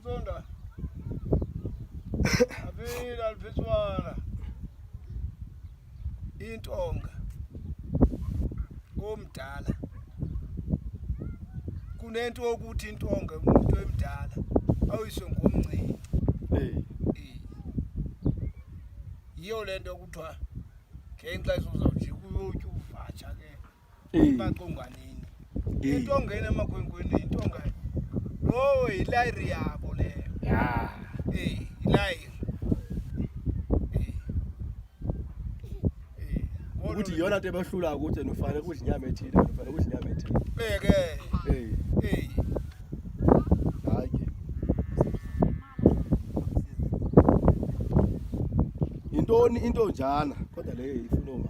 Zonda. Aphila aliphiswana. Intonga. Komdala. Kunento okuthi intonga umuntu emdala awuyiswe ngomncinci. Eh. Yiyo lento kuthiwa ngenxa izozawujika uyotyuvatsha ke. baqonganini into ongena emakhwenkweni into ongayo lowo yilayiri yabo leyo ya Eh, yilayiri Eh. Eh, kodwa ukuthi yona nto ebahlula ukuthi and ufanele kudla inyama ethile and ufanele kudla inyama ethile beke Eh, Eh, hayi ke yintoni into njana kodwa leyo ifuna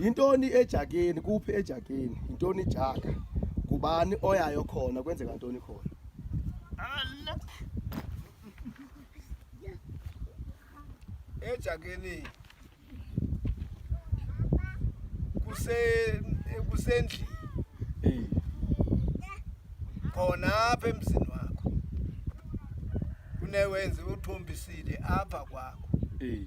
Yintoni ejakeni? Kuphi ejakeni? Yintoni ijaka? Ngubani oyayo khona? Kwenzeka ntoni khona? Ejakeni kuse kusendlini Eh, khona apha emzini wakho kunewenze uthombisile apha kwakho eh.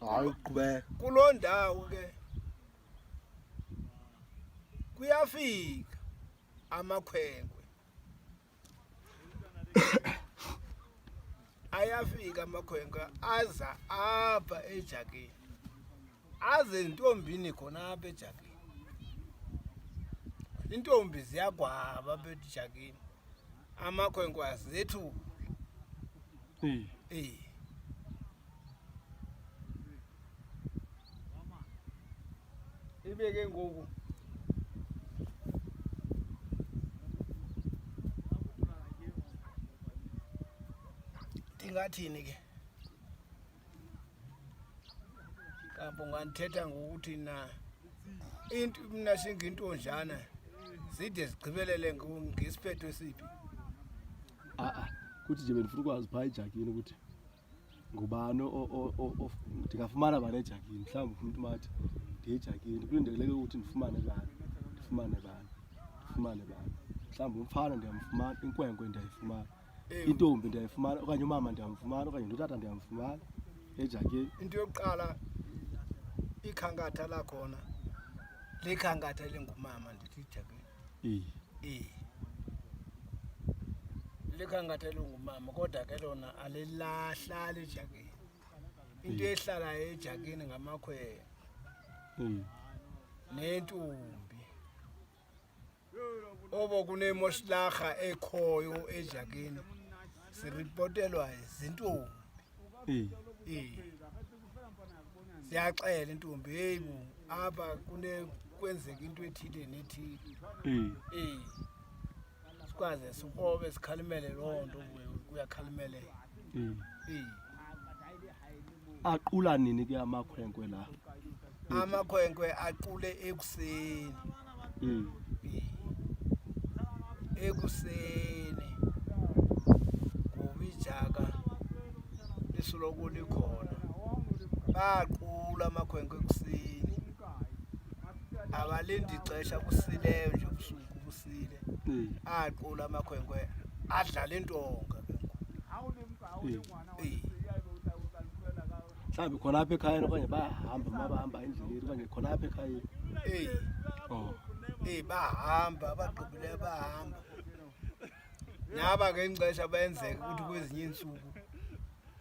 hayi uqhubeka kuloo ndawo ke kuyafika amakhwenkwe ayafika amakhwenkwe aza apha ejakini aze ntombini khona apha ejakini intombi ziyagwaba apha ejakini amakhwenkwe azethu eh eh ibe ke ngoku ndingathini ke kampo ngandithetha ngokuthi na into mna singintonjana zide zigqibelele ngesiphetho esiphi a-a kuthi nje bendifuna ukwazi phaa ejakini ukuthi ngubani ndingafumana bani ejakini mhlawumbi ufuna uthi mathi ndiyejakini kulindeleke ukuthi ndifumane bani ndifumane bani ndifumane bani mhlawumbi umfana ndiyamfumana inkwenkwe ndiyayifumana intombi ndiyayifumana okanye umama ndiyamfumana okanye ndotata ndiyamfumana ejakeni into yokuqala ikhankatha lakhona likhankatha elingumama ndithi ijakeni ee likhankatha elingumama kodwa ke lona alilahlali ejakeni into ehlalayo ejakeni ngamakhwela nentombi oko kunemoshlaha ekhoyo ejakeni siripotelwa zintombi siyaxela intombi heyi bo apha kwenzeka into ethile nethile ey sikwaze sikrobe sikhalimele loo nto kuyakhalimele ey Aqula nini ke amakhwenkwe la? Amakhwenkwe aqule ekuseni. Mm. Ekuseni. Kubijaka lisoloko likhona. Baqula amakhwenkwe ekuseni. Abalindi ixesha kusile nje ubusuku kusile. Mm. Aqula amakhwenkwe adlala intonga. Mm. mhlawumbi khona apha ekhayeni okanye bahamba ma bahamba endleleni okanye khona apha ekhayeni eyi oh. eyi bahamba abagqibileyo bahamba naba ke ngexesha benzeka ukuthi kwezinye iintsuku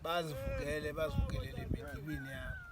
bazivukele bazivukelele emidibini yabo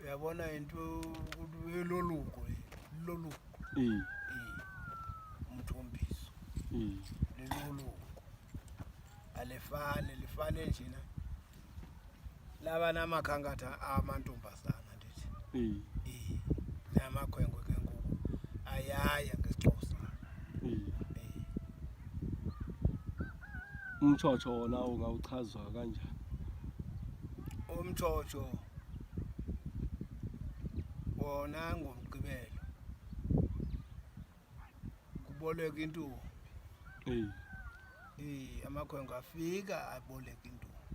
uyabona into eloluko loluko umthombiso leloluko alifane lifane njena laba namakhankatha amantombazana ndithi namakhwenkwe ke ngoku ayaya umtshotsho wona ungawuchazwa kanjani umtshotsho wona ngomgqibelo kuboleka intombi eyi eyi amakhwenkwe afika aboleka intombi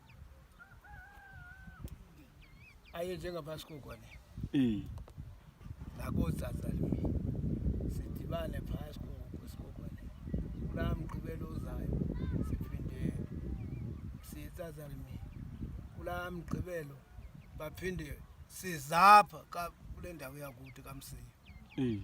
aye njengapha sikugone um nakootsatsa limi sidibane phaa sikuku sikugone kulaa mgqibelo uzayo siphinde sitsatsa limi kulaa mgqibelo baphinde sizapha kule ndawo yakuthi kamsiyo um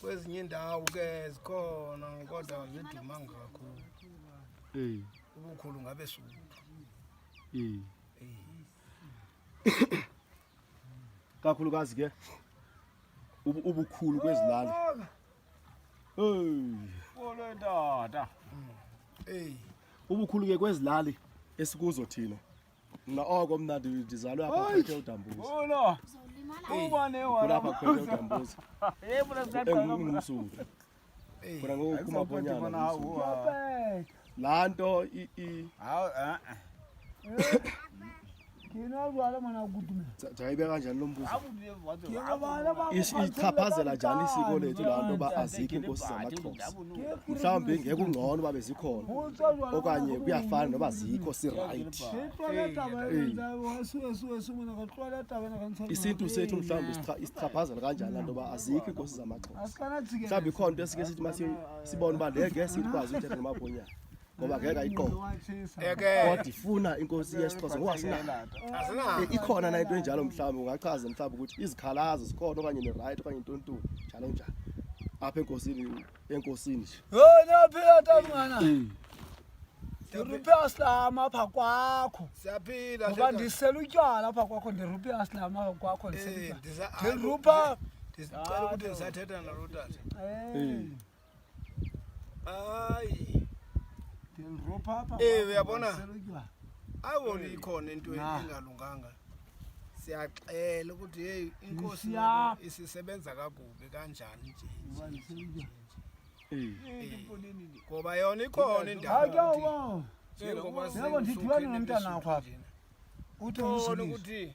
kwezinye indawo ke zikhona kodwa zidumanga kakhulu eh. ubukhulu ngabe suku eh. eh. kakhulukazi ke ubukhulu kwezilali Kolo ndoda. Hey. Ubukhulu ke kwezilali esikuzo thina. Mna oko oh, mna ndizalwe apha phethe udambuza. Ulo. Ubone wona. Kulapha phethe udambuza. Hey mna sithatha. Engumsuthu. Khona ngoku kuma bonyana. Laa nto i i. Hawu eh. Ngino alwala mwana kudume. Jayibeka kanjani lo mbuzo? isichaphazela njani isiko lethu laa nto uba azikho iinkosi zamaxhosa mhlawumbi ngeke ungcono uba bezikhona okanye kuyafana noba zikho sirayithi isintu sethu mhlawumbi isichaphazela kanjani laa nto uba azikho iinkosi zamaxhosa mhlawumbi ikhona nto esike sithi masibone uba le ngeke sikwazi uthetha nomabhonyana ngoba ngeke ayiqoke kodwa ifuna inkosi yesixhosa ngoba sinayo Eh, ikhona na into enjalo mhlawumbi ungachaza mhlawumbi ukuthi izikhalazo zikhona okanye ne-right okanye intontoni njalo njalo apha enkosini enkosini nje yona phila tamngana ndiruphe asilama apha kwakho siyaphila ngoba shaka. ndisela utywala apha kwakho ndiruphe asilama apha kwakho Eh, ndisela ndisa- utywala. ndirupha ndicela ukuthi ndisathetha nalo tata Eh. Hayi. Ndinropapa. Eh uyabona? Awu likhona into engalunganga. Siyaxela ukuthi hey inkosi isisebenza kakubi kanjani nje. Ngoba yona ikhona indawo. Njengoba singomntana wakho. Uthi ukuthi